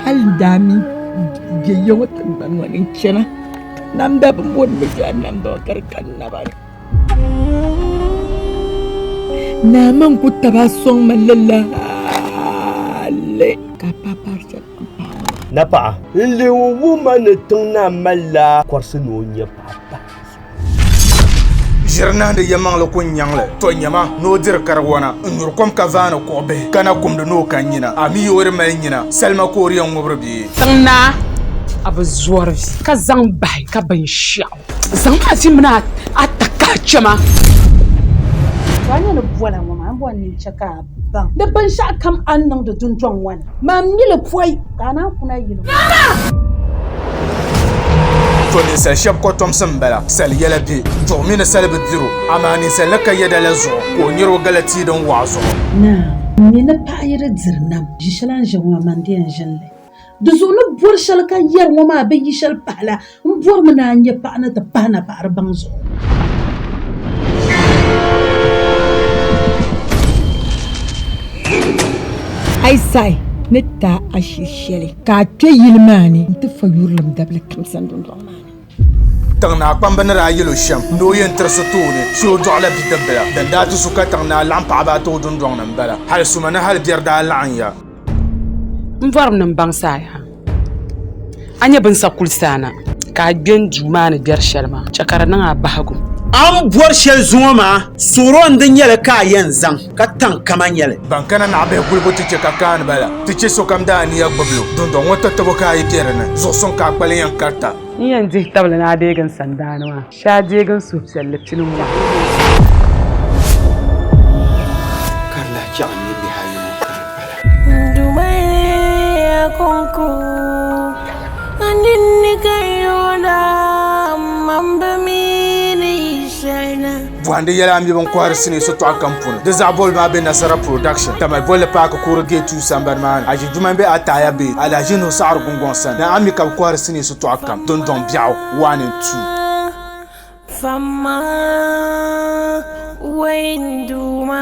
hali n daa mi bɛ ya ŋɔ tiŋgbani ŋɔ ni n chana namda bi mo ni bi ʒe a namda ŋɔ ka di ka n naba ni naa maa n-ku tabi a sɔŋ ma lala hali ka a paai paari shɛli n paai ŋɔ maa. Napaɣa n-leei o wuhi ma ni tiŋ naa malila kɔrisi ni o nya paɣa pahi. ʒiri nahindi yɛmaŋli ku nyaŋli, to nyama ni o diri kariwana n-nyuri kom ka vaani kuɣ bihi, ka na kumdi ni o ka nyina. A mi yi o di mali nyina, salima ka o di yɛn ŋubiri bee? Tiŋ Naa, a bi zɔri vi ka zaŋ bahi ka binshɛɣu? Zaŋm a vi mini a takahichɛma. Bɔ a ni ni bɔla ŋɔ maa, m bɔ n ni chɛ ka a. baŋ. Di binshɛɣu kam a ni niŋdi dundɔŋ ŋɔ ni, maa mi li pɔi, ka a naan kuna yili ŋɔ. To ninsal shɛb kɔtomsi m-bala, sal yɛla bɛ duɣi mi ni sal bi diri o, amaa ninsal ni ka yɛda la zuɣu ka o nir o gala tia din waɣa zuɣu. Naa, m mi ni paɣ yi di diri nam, ʒi shɛl a ni ʒi ŋɔ, amaa n di yɛn ʒin li. Di zuɣu ni bɔri shɛli ka yɛri ŋɔ maa bɛ yi shɛli pahi la, n bɔrimi ni a nya paɣa ni ti pahi napaɣiri baŋ zuɣu. A yi saɣi ni taai a shiri shɛli ka a kpe yili maa ni nti fa yurilim dabili kamsa dundɔŋ maa ni. Tiŋnaa kpamba ni daa yɛl o shɛm ni o yɛn tiri so tooni so o dɔɣila bidibbila. Din daa ti su ka Tiŋnaa laɣim paɣiba ata o dundɔŋ ni m-bala. Hal suma ni hal biɛri daa laɣinya. M bɔrinim baŋsaaya, a nya bɛ ni sa kuli saana ka a kpe n duu maa ni biɛri shɛli maa, chɛ ka di niŋ a bahigu. A ni bɔri shɛli zuŋɔ maa, suɣiri o ni di nyɛli ka a yɛn zaŋ. ka taŋ kama nya li. Ban kana naɣibihi gulibu ti chɛ ka kaani ba la, ti chɛ sokam daa aniya gbibi li o dundɔŋ ŋɔ tatabo ka a yi kpe di ni, zuɣusuŋ ka a kpali yɛn karita. N yɛn dihi tabili ni a deegi n sandaani maa, shee a deegi n suhupiɛlli pini ŋɔ. Ka di lahi chaɣ n ni bihi ayi ŋɔ ka di pala. N dumayiya kɔŋko, a ninni ka n yooi daa, m-mamba mi ni yi shɛli na. Bɔhindi yɛla mi bin kɔhiri sinii sitɔɣu kam puuni. Di zaɣ bɔli maa be Nasara Production, Tamale Bolli Paaki Kuuri Gate 2 sambani maa ni. Aʒi Juman be Ataaya Bay, Alahaji Nuhu Saɣiri Gungɔŋ sani. Ni a mi ka bɛ kɔhiri sinii sitɔɣu kam, Dundɔŋ Biɛɣu 1 and 2. Fama Wayne Duuma.